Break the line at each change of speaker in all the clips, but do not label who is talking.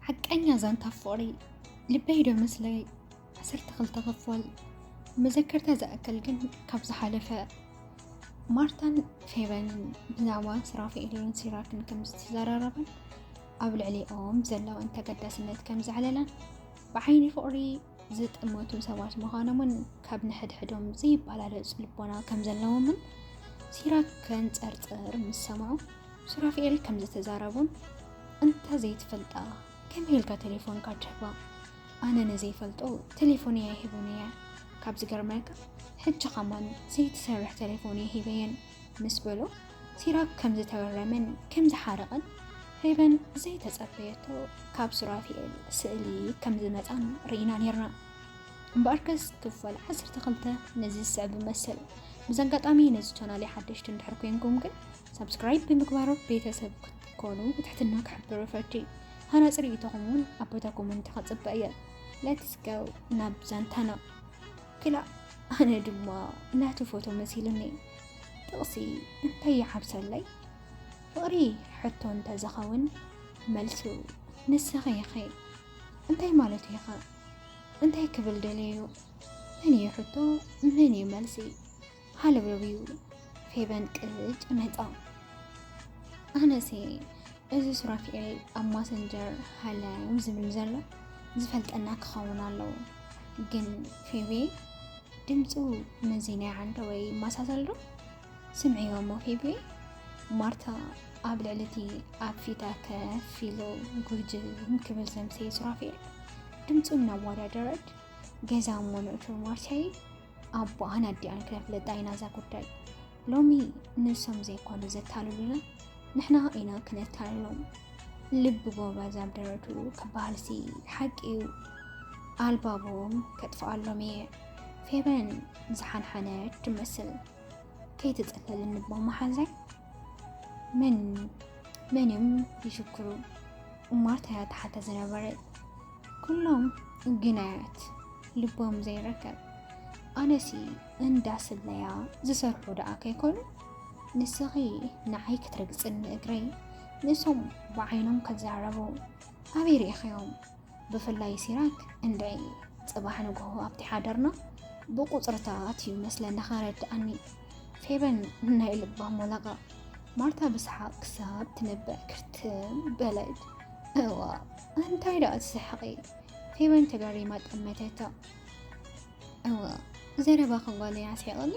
ሓቀኛ ዛንታ ፍቕሪ ልበይ ዶ ምስለይ ዓሰርተ ክልተ ክፋል መዘከርታ ዝኣክል ግን ካብ ዝሓለፈ ማርታን ፌበንን ብዛዕባ ስራፌኤልን ሲራክን ከም ዝተዘራረበን ኣብ ልዕሊኦም ዘለወን ተገዳስነት ከም ዘዕለላን ብዓይኒ ፍቕሪ ዝጥመቱ ሰባት ምዃኖምን ካብ ንሕድሕዶም ዘይበላለፅ ልቦና ከም ዘለዎምን ሲራክ ከንፀርፅር ምስ ሰምዑ ሱራፊኤል ከም ዝተዛረቡን እንተ ዘይትፈልጣ ከመይ ኢልካ ቴሌፎንካ ትህባ ኣነ ንዘይፈልጦ ቴሌፎን እያ ይህብን እየ ካብ ዝገርመልካ ሕጂ ከማን ዘይትሰርሕ ቴሌፎን እየ ሂበየን ምስ በሎ ሲራክ ከም ዝተበረመን ከም ዝሓረቐን ፌበን ዘይተጸበየቶ ካብ ሱራፊኤል ስእሊ ከም ዝመጻን ርኢና ነርና እምበኣርከስ ክፈል 12 ነዚ ዝስዕብ መሰል ብዚ ኣጋጣሚ ነዚ ቻናል ሓደሽቲ እንድሕር ኮንኩም ግን ሳብስክራይብ ብምግባር ቤተሰብ ክትኮኑ ብትሕትና ክሕብር ፈቲ ሃናፂ ርእይቶኹም እውን ኣብ ቦታ ኮመንቲ ከፅበ እየ ሌትስ ጎ ናብ ዛንታና ክላእ ኣነ ድማ ናቱ ፎቶ መሲሉኒ ጥቕሲ እንታይ ይሓብሰለይ ፍቕሪ ሕቶ እንተዝኸውን መልሱ ንስኺ ኢኺ እንታይ ማለት ኢኻ እንታይ ክብል ደለዩ መን እዩ ሕቶ መን እዩ መልሲ ሃለውለውዩ ፌበን ቅጭ መጣ ኣነሲ እዚ ሱራፊኤል ኣብ ማሰንጀር ሃለው ዝብል ዘሎ ዝፈልጠና ክኸውን ኣለዎ ግን ፌቤ ድምፁ መዚ ናይ ዓንደ ወይ ይመሳሰል ዶ ስምዕዮ እሞ ፌቤ ማርታ ኣብ ልዕሊ እቲ ኣብ ፊታ ከፍ ኢሉ ጉርጅም ክብል ዘምሰየ ሱራፊኤል ድምፁ እናወዳደረት ገዛ እሞ ንእቱር ማርታዬ ኣቦኣን ኣዲኣን ከፍለጣ ኢና እዛ ጉዳይ ሎሚ ንሶም ዘይኮኑ ዘታልሉና ንሕና ኢና ክነታልሎም ልቢ ጎበዝ ኣብ ደረቱ ክበሃልሲ ሓቂ እዩ ኣልባቦም ከጥፍኣሎም እየ ፌበን ዝሓንሓነ ትመስል ከይትፅለል እንቦ መሓዛይ ምን ምንም ይሽክሩ እማርታያ ተሓተ ዝነበረ ኩሎም ግናያት ልቦም ዘይረከብ ኣነሲ እንዳ ስለያ ዝሰርሑ ደኣ ከይኮኑ ንስኺ ንዓይ ክትረግፅኒ እግረይ ንሶም ብዓይኖም ከዛረቡ ኣበይ ርኢኸዮም ብፍላይ ሲራክ እንደይ ፅባሕ ንግሆ ኣብቲ ሓደርና ብቁፅርታት እዩ መስለኒ ከረድኣኒ ፌበን ናይ ልባ ሞላቃ ማርታ ብስሓቅ ክሳብ ትንበዕ ክርትም በለት እዋ እንታይ ደኣ ትስሕቂ ፌበን ተገሪማ ጠመተቶ። እወ ዘረባ ክጓለ ያስሒቕኒ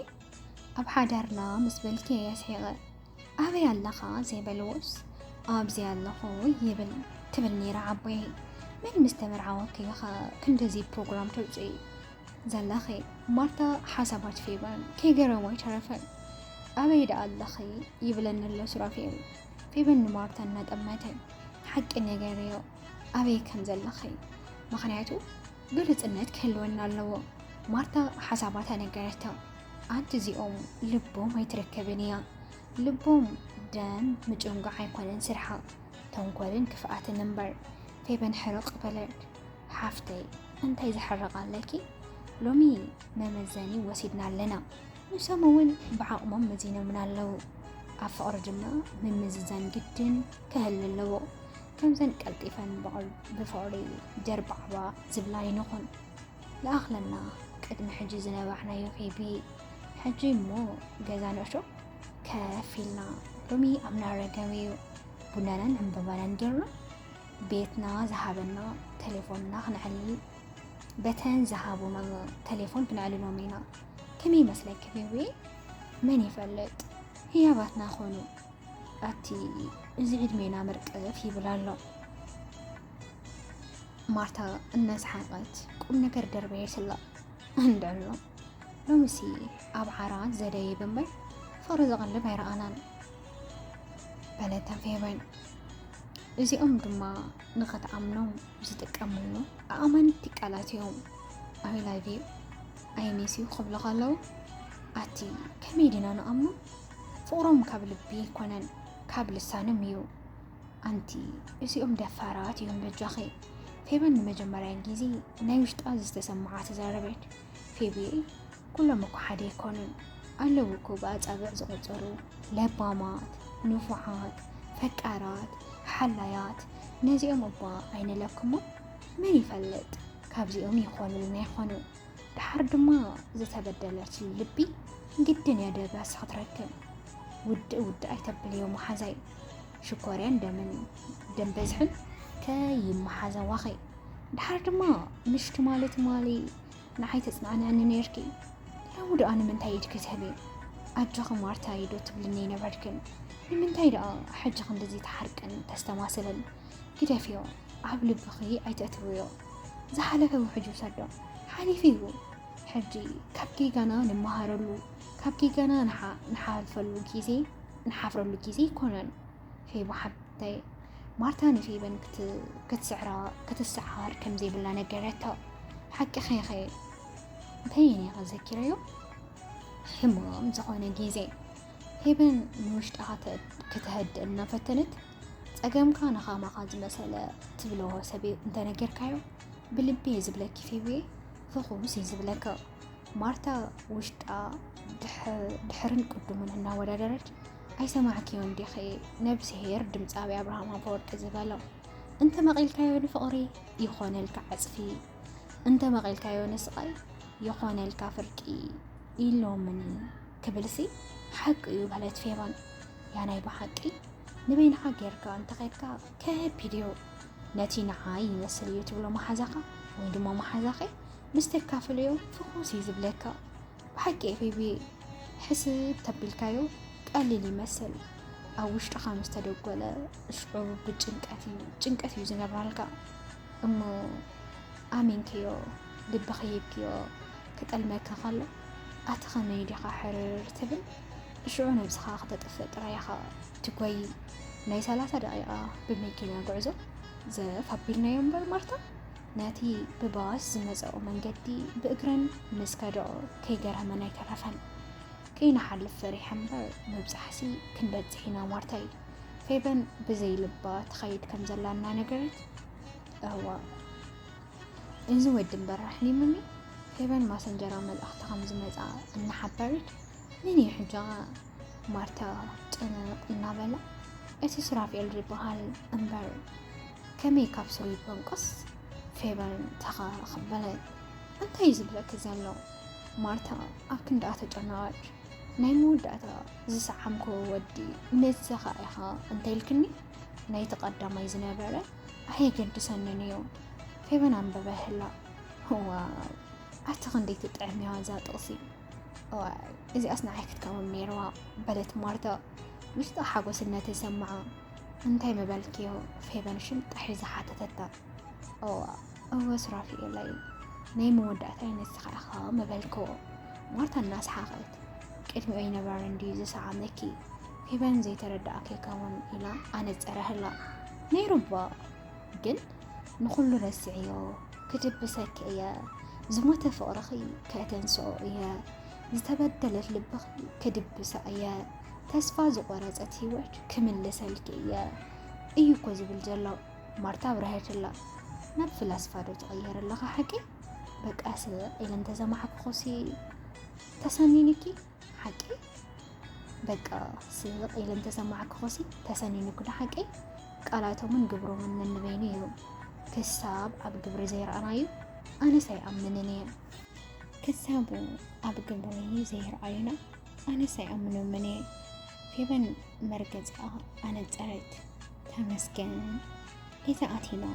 ኣብ ሓዳርና ምስ በልኪ የስሒቐ ኣበይ ኣለኻ ዘይበልዎስ ኣብዚ ኣለኹ ይብል ትብል ነይራ ዓቦይ መን ምስ ተመርዓወኪ ኢኻ ክንደዚ ፕሮግራም ተውፅኢ ዘለኺ ማርታ ሓሳባት ፌበን ከይገረሞ ኣይተረፈን ኣበይ ደኣ ኣለኺ ይብለኒ ኣሎ ሱራፌል ፌበን ንማርታ እናጠመተ ሓቂ ነገር እዮ ኣበይ ከም ዘለኺ ምክንያቱ ግልፅነት ክህልወና ኣለዎ። ማርታ ሓሳባ ተነገረታ። ኣንቲ እዚኦም ልቦም ኣይትረከብን እያ ልቦም ደም ምጭንጓዕ ኣይኮነን ስርሓ ተንኮልን ክፍኣትን እምበር ፌበን ሕርቕ በለት ሓፍተይ እንታይ ዝሕርቕ ኣለኪ ሎሚ መመዘኒ ወሲድና ኣለና ንሶም እውን ብዓቕሞም መዚኖምና ኣለዉ ኣብ ፍቕሪ ድማ ምምዝዛን ግድን ክህል ኣለዎ ከምዘን ቀልጢፈን ብፍቕሪ ደርባዕባ ዝብላ ይንኹን ይኣኽለና ቅድሚ ሕጂ ዝነባሕናዮ ኬቢ ሕጂ እሞ ገዛ ንእሾ ከፍ ኢልና ሎሚ ኣብ ናረገብ እዩ ቡናናን ዕምበባናን ጌርና ቤትና ዝሃበና ቴሌፎንና ክንዕልል በተን ዝሃቡና ቴሌፎን ክንዕልሎም ኢና ከመይ ይመስለኪ ቤቤ መን ይፈልጥ ህያባትና ኾኑ ኣቲ እዚ ዕድሜና መርቀፍ ይብል ኣሎ። ማርታ እናሰሓቀት ቁም ነገር ደርበየ ስላ እንደሎ ሎምሲ ኣብ ዓራ ዘደይ ብምበር ፍቅሪ ዘቐልብ ኣይረኣናን በለተን ፌበን። እዚኦም ድማ ንኸትኣምኖም ዝጥቀምሉ ኣእማንቲ ቃላት እዮም። ኣይ ላቭ ዩ ኣይ ሚስ ዩ ክብሉ ከለዉ ኣቲ ከመይ ድና ንኣምኖ ፍቕሮም ካብ ልቢ ኣይኮነን ካብ ልሳኖም እዩ። ኣንቲ እዚኦም ደፋራት እዮም በጃኺ። ፌበን ንመጀመርያ ግዜ ናይ ውሽጣ ዝተሰምዓ ተዛረበት። ፌብየ ኩሎም እኮ ሓደ ኣይኮኑን ኣለዉ እኮ ብኣጻብዕ ዝቆጸሩ ለባማት፣ ንፉዓት፣ ፈቃራት፣ ሓላያት ነዚኦም እባ ኣይንለክሞ መን ይፈልጥ ካብዚኦም ይኾኑልና ይኾኑ። ድሓር ድማ ዝተበደለት ልቢ ግድን እያ ደበስ ክትረክብ ውድእ ውድእ ኣይተብልዮ መሓዛይ ሽኮርያን ደምን ደም በዝሕን ከይመሓዘዋኺ ድሓር ድማ ምሽቲ ማለት ማሊ ንዓይ ተፅናዕንዕኒ ነርኪ ሎሚ ደኣ ንምንታይ ኢድኪ ትህቢ ኣጆኺ ማርታ ኢዶ ትብልኒ ይነበርክን ንምንታይ ደኣ ሕጂ ክንዲዚ ተሓርቅን ተስተማስልን ግደፍዮ ኣብ ልብኺ ኣይተእትውዮ። ዝሓለፈ ውሕጅ ውሰዶ ሓሊፉ እዩ። ሕጂ ካብ ጌጋና ንመሃረሉ ካብ ጌጋና ንሓልፈሉ ግዜ ንሓፍረሉ ግዜ ኣይኮነን። ፌቡ ሓብተይ ማርታ ንፌበን ክትስዕራ ክትሰዓር ከም ዘይብላ ነገረታ። ሓቂ ኸይኸ እንታይ እየ ነይረ ዘኪረዮ ሕማም ዝኾነ ግዜ ፌበን ንውሽጣ ከተህድእ እናፈተነት ጸገምካ ንኻማኻ ዝመሰለ ትብለዎ ሰብ እንተነገርካዮ ብልቢ እየ ዝብለኪ ፌብየ ፍኹስ እዩ ዝብለካ ማርታ ውሽጣ ድሕርን ቅዱምን እናወዳደረች ኣይሰማዕክዮን ዲኺ ነብስሄር ድምፃዊ ኣብርሃም ኣፈወርቂ ዝበለው እንተ መቒልካዮ ንፍቕሪ ይኾነልካ ዓፅፊ እንተ መቒልካዮ ንስቓይ ይኾነልካ ፍርቂ ኢሎምኒ ክብልሲ ሓቂ እዩ በለት ፌባን ያ ናይ ብሓቂ ንበይንኻ ጌርካ እንተኸድካ ከቢድ እዩ ነቲ ንዓይ ይመስል እዩ ትብሎ መሓዛኻ ወይ ድማ መሓዛኺ ምስ ተካፍልዮ ፍኹስ እዩ ዝብለካ ብሓቂ ኤፌቢ ሕስብ ተቢልካዮ ቀሊል ይመስል ኣብ ውሽጥኻ ምስ ተደጎለ ሽዑ ብጭንቀት እዩ ጭንቀት እዩ ዝነብራልካ እሞ ኣሚንክዮ ልብኺ ሂብክዮ ክጠልመካ ከሎ ኣቲ ከመይ ዲኻ ሕርር ትብል እሽዑ ነብስኻ ከተጥፍእ ጥራይ ኢኻ ትጎይ ናይ ሰላሳ ደቂቃ ብመኪና ጉዕዞ ዘፍ ኣቢልናዮ እምበር ማርታ ነቲ ብባስ ዝመፀኦ መንገዲ ብእግረን ምስ ከደኦ ከይገረመን ኣይተረፈን ከይንሓልፍ ፈሪሐ እምበር ምብፃሕሲ ክንበፅሕ ኢና ማርታ እዩ ፌበን ብዘይ ልባ ትኸይድ ከም ዘላ እናነገረት እዋ እዚ ወዲ እምበር ራሕሊሙኒ ፌቨን ማሰንጀራ መልእኽቲ ከም ዝመጽኣ እናሓበረት መን እዩ ሕጃ ማርታ ጨነቕ እናበላ እቲ ሱራፌል ዝበሃል እምበር ከመይ ካብ ስሩ ይበንቆስ ፌቨን ተኸኽ በለት እንታይ እዩ ዝብለኪ ዘሎ ማርታ ኣብ ክንዳኣ ተጨነቐች ናይ መወዳእታ ዝሰዓምክዎ ወዲ ንስኻ ኢኻ እንተይልክኒ ናይቲ ቀዳማይ ዝነበረ ኣየገድሰንን እዩ ፌበን ኣንበበ ህላ ዋ ኣቲ ክንደይ ትጥዕም እያ እዛ ጥቕሲ እዚኣስ ንዓይ ክትከውን ነይርዋ በለት ማርታ ውሽጣ ሓጎስነት ተሰምዓ እንታይ ምበልክዮ ፌበን ሽምጣ ሒዛ ሓተተታ እወ ሱራፊኤለይ ናይ መወዳእታይ ንስኻ ኢኻ መበልክዎ ማርታ እናስሓቐት ቅድሚኦ ይነበረ እንድዩ ዝሰዓመኪ ፌበን ዘይተረዳእኪ ከውን ኢላ ኣነጸረህላ ነይሩባ ግን ንኹሉ ረስዕዮ ክድብሰኪ እየ ዝሞተ ፍቕርኺ ከተንስኦ እየ ዝተበደለት ልብኺ ክድብሳ እየ ተስፋ ዝቆረጸት ህይወት ክምልሰልኪ እየ እዩ እኮ ዝብል ዘሎ ማርታ ኣብራሄትላ ናብ ፍላስፋ ዶ ትቕየር ኣለኻ ሓቂ በቃስ ኢለ እንተዘማሓክኾሲ ተሰኒንኪ ሓቂ በቃ ስቕ ኢለ እንተዘማሓክኾሲ ተሰኒንኩ ዶ ሓቂ ቃላቶምን ግብሮምን ነንበይኑ እዩ ክሳብ ኣብ ግብሪ ዘይረኣናዩ ኣነስ ኣይኣምንን እየ ክሳብ ኣብ ግብሪ ዘይረኣዩና ኣነስ ኣይኣምኖምን እየ ፌበን መርገፂኣ ኣነፀረት ተመስገን እቲ ኣቲና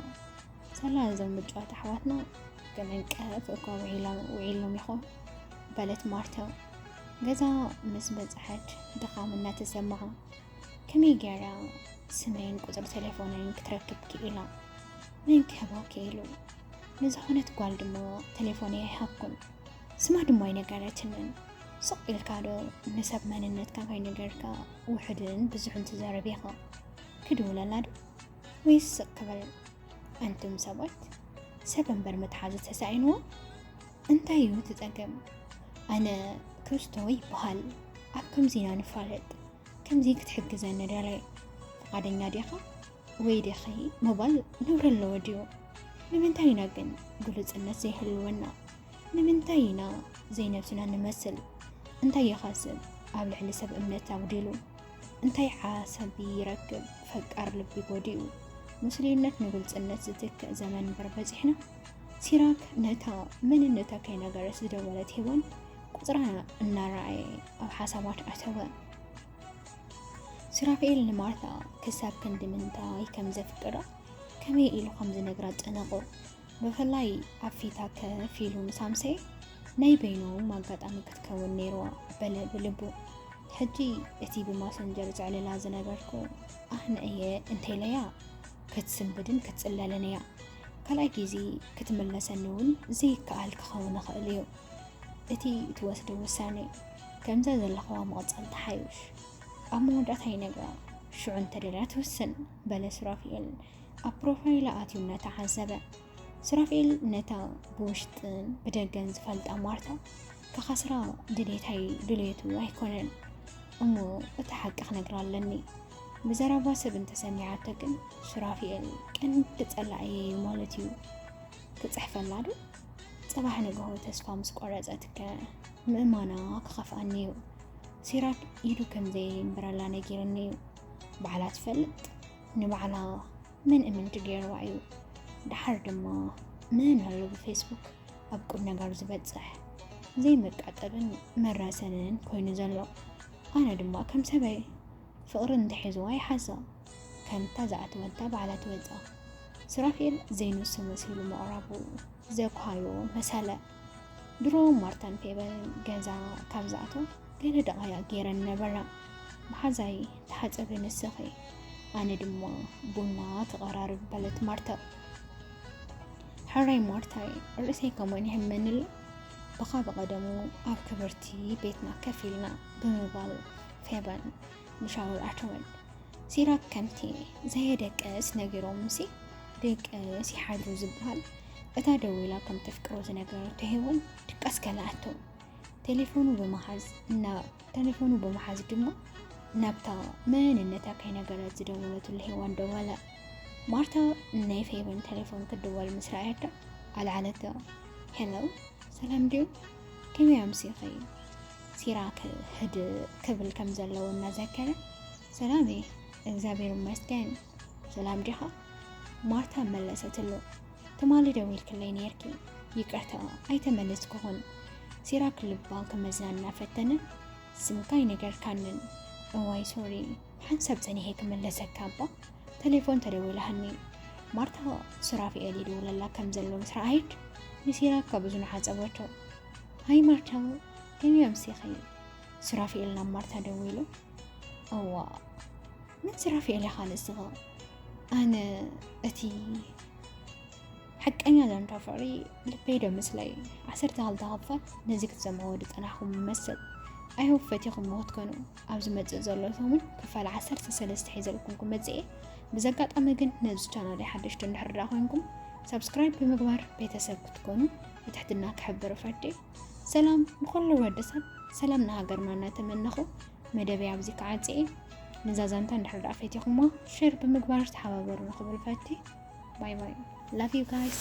ሰላ እዞም ምጭዋት ኣሕዋትና ከመንቀፍ እኳ ውዒሎም ይኾን በለት ማርታ ገዛ ምስ በፅሐት ድኻም እናተሰማዓ ከመይ ገይራ ስመይን ቁፅሪ ቴሌፎንን ክትረክብ ክኢላ መን ክህባ ክኢሉ ንዝኾነት ጓል ድማ ቴሌፎን ኣይሃብኩን ስማ ድማ ኣይነገረትንን ስቕ ኢልካ ዶ ንሰብ መንነትካ ከይነገርካ ውሑድን ብዙሕን ትዛረብ ኢኻ ክድውለላ ዶ ወይስ ስቕ ክበል ኣንቱም ሰባት ሰብ እምበር መትሓዚ ተሳኢንዎ እንታይ እዩ ትፀገም ኣነ ክርስቶ ይበሃል ኣብ ከምዚና ንፋለጥ ከምዚ ክትሕግዘኒ ደለ ፍቃደኛ ዲኻ ወይ ዲኺ ምባል ነውሪ ኣለዎ ድዩ ንምንታይ ኢና ግን ግሉፅነት ዘይህልወና ንምንታይ ኢና ዘይነብስና ንመስል? እንታይ ይኸስብ? ኣብ ልዕሊ ሰብ እምነት ኣጉዲሉ እንታይ ዓሰቢ ይረክብ? ፈቃር ልቢ ጎዲኡ ምስሉይነት ንግልፅነት ዝትክእ ዘመን እምበር በፂሕና። ሲራክ ነታ መንነታ ከይነገረስ ዝደወለት ሄዋን ቁፅራ እናረኣየ ኣብ ሓሳባት ኣተወ። ሲራክኤል ንማርታ ክሳብ ክንዲ ምንታይ ከም ዘፍቅራ ከመይ ኢሉ ከም ዝነግራ ጨነቆ። ብፍላይ ኣብ ፊታ ከፍ ኢሉ ምስ ኣምሰየ ናይ በይኑ ኣጋጣሚ ክትከውን ነይርዋ በለ ብልቡ ሕጂ እቲ ብማሰንጀር ዘዕልላ ዝነበርኩ ኣነ እየ እንተይለያ ክትስንብድን ክትፅለልን እያ ካልኣይ ግዜ ክትምለሰኒ እውን ዘይከኣል ክኸውን ይኽእል እዩ እቲ እትወስዶ ውሳነ ከምዛ ዘለኹዋ ምቕፃል ተሓይሽ ኣብ መወዳእታ ይነግራ ሽዑ እንተደልያ ትውስን በለ ሱራፊኤል ኣብ ፕሮፋይላ ኣትዩ እናተዓዘበ ሱራፌል ነታ ብውሽጥን ብደገን ዝፈልጣ ማርታ ከኻስራ ድሌታይ ድሌቱ ኣይኮነን እሞ እቲ ሓቂ ክነግራ ኣለኒ ብዘረባ ሰብ እንተሰሚዓቶ ግን ሱራፊኤል ቀንዲ ጸላኢ እዩ ማለት እዩ ክጽሕፈላ ዶ ጽባሕ ንግሆ ተስፋ ምስ ቆረጸትከ ምእማና ክኸፍኣኒ እዩ ሲራክ ኢዱ ከም ዘየንብረላ ነጊርኒ እዩ ባዕላ ትፈልጥ ንባዕላ ምን እምንቲ ገይርዋ እዩ ደሓር ድማ ምን ኣሎ ብፌስቡክ ኣብ ቁም ነገር ዝበፅሕ ዘይመቃጠብን መራሰንን ኮይኑ ዘሎ ኣነ ድማ ከም ሰበይ ፍቕሪ እንተሒዝዋ ይሓዛ ከምታ ዝኣተወታ ባዕላ ትወፃ ሱራፌል ዘይንሱ መሲሉ ምቕራቡ ዘኳዮ መሰለ ድሮ ማርታን ፌበን ገዛ ካብ ዝኣተው ገለ ደቓያ ገይረን ነበራ መሓዛይ ተሓፀበ ንስኺ ኣነ ድማ ቡና ክቐራርብ በለት ማርታ ሕራይ ማርታይ ርእሰይ ከመን ይሕመንል ብኻ ብቐደሙ ኣብ ክብርቲ ቤትና ከፍ ኢልና ብምባል ፌበን ንሻወር ኣተወን ሲራክ ከምቲ ዘየደቀስ ነጊሮምሲ ደቀስ ይሓድሩ ዝበሃል እታ ደዊላ ከም ተፍቅሮ ዝነገረቶ ሄወን ድቀስ ከልኣቶ ቴሌፎኑ ብምሓዝ እና ቴሌፎኑ ብምሓዝ ድማ ናብታ መንነታ ከይነገረት ዝደወለትሉ ሄዋን ደወለ ማርታ ናይ ፌቨን ቴሌፎን ክድወል ምስ ረኣየቶ ኣልዓለቶ ሄሎ ሰላም ድዩ ከመይ ኣምሲኺ ሲራክ ህድ ክብል ከም ዘለዎ እናዘከረ ሰላሜ እግዚኣብሔር ይመስገን ሰላም ዲኻ ማርታ መለሰትሉ ትማሊ ደዊልክለይ ነይርኪ ይቅርታ ኣይተመለስክኹን ሲራክ ልባ ክመዝና እናፈተነ ስምካይ ነገር ካንን እዋይ ሶሪ ሓንሳብ ፀኒሔ ክመለሰካ እባ ተሌፎን ተደዊላሃኒ ማርታ ሱራፊኤል ይድውለላ ከም ዘሎ ምስ ረኣየት ንሲራክ ካብ እዝኑ ሓፀበቶ ሃይ ማርታ ከመይ ኣምሲኺ? ሱራፊኤል ናብ ማርታ ደዊሉ እዋ ምን ሱራፊኤል ኢኻ ንስኻ? ኣነ እቲ ሓቀኛ ዛንታ ፍቕሪ ልበይ ዶ ምስለይ ዓሰርተ ክልተ ክፋል ነዚ ክትሰምዕዎ ዝጸናሕኩም መሰል ኣይሆብ ፈቲኹም ክትኮኑ ኣብ ዝመጽእ ዘሎ ሰሙን ክፋል ዓሰርተ ሰለስተ ሒዘልኩም ክመጽእ እየ ብዚ ኣጋጣሚ ግን ነዚ ቻናል ሓደሽቲ እንድሕር ኮይንኩም ሰብስክራይብ ብምግባር ቤተሰብ ክትኮኑ ብትሕትና ክሕብር እፈዲ። ሰላም ንኹሉ ወዲ ሰብ ሰላም ንሃገርና እናተመነኹ መደበይ ኣብዚ ክዓጽ እየ። ንዛ ዛንታ እንድሕር ደኣ ፈቲኹሞ ሼር ብምግባር ተሓባበሩ ንኽብል ፈቲ ባይ ባይ ላቭ ዩ ጋይስ